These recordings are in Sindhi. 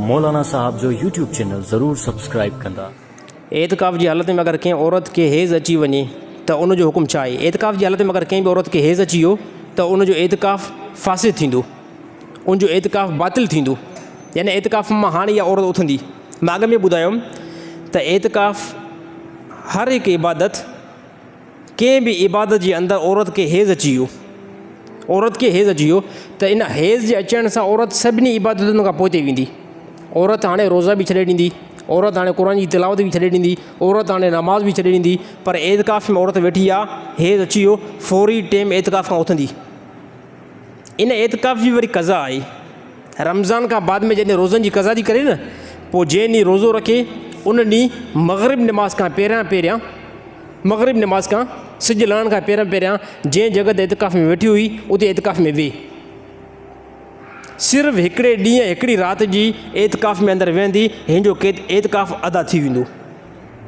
مولانا صاحب جو يوٽيوب چينل ضرور سبسڪرائب ڪندا. اعتڪاف جي حالت ۾ اگر ڪنهن عورت کي حيض اچي وڃي ته ان جو حڪم ڇا آهي؟ اعتڪاف جي حالت ۾ اگر ڪنهن به عورت کي حيض اچي ويو ته ان جو اعتڪاف فاسد ٿيندو، ان جو اعتڪاف باطل ٿيندو، يعني اعتڪاف مان هاڻي اها عورت اٿندي. مان اڳ ۾ ٻڌايم ته اعتڪاف هر هڪ عبادت. ڪنهن به عبادت جي اندر عورت کي حيض اچي ويو، عورت کي حيض اچي ويو ته ان حيض جي اچڻ سان عورت سڀني عبادتن کان پوئتي ويندي، عورت هاڻي روزا به ڇڏي ڏيندي، عورت هاڻي قرآن جي تلاوت به ڇڏي ڏيندي، عورت هاڻي نماز به ڇڏي ڏيندي، پر اعتڪاف ۾ عورت ويٺي آ، حيض اچي ويو، فوري ٽيم اعتڪاف کان اٿندي. ان اعتڪاف جي وري قضا آهي. رمضان کان بعد ۾ جڏهن روزن جي قضا ٿي ڪري نه پوء جنهن ڏينهن روزو رکي ان ڏينهن مغرب نماز کان پهريان پهريان مغرب نماز کان سج لهڻ کان پهريان پهريان جنهن جڳهه تي اعتڪاف ۾ ويٺي هئي اتي اعتڪاف ۾ ويهي صرف هڪڙي ڏينهن هڪڙي رات جي اعتڪاف ۾ اندر ويهندي هن جو اعتڪاف ادا ٿي ويندو.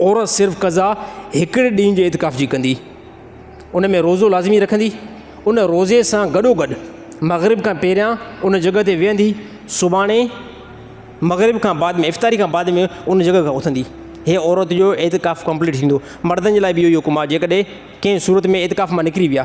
عورت صرف قضا هڪڙي ڏينهن جي اعتڪاف جي ڪندي. ان ۾ روزو لازمي رکندي. ان روزي سان گڏوگڏ مغرب کان پهريان ان جڳهه تي ويهندي. سڀاڻي مغرب کان بعد ۾ افطاري کان بعد ۾ ان جڳهه کان اٿندي. هيء عورت جو اعتڪاف ڪمپليٽ ٿيندو. مردن جي لاء به اهو ئي حڪم آهي جيڪڏهن ڪنهن صورت ۾ اعتڪاف مان نڪري ويا.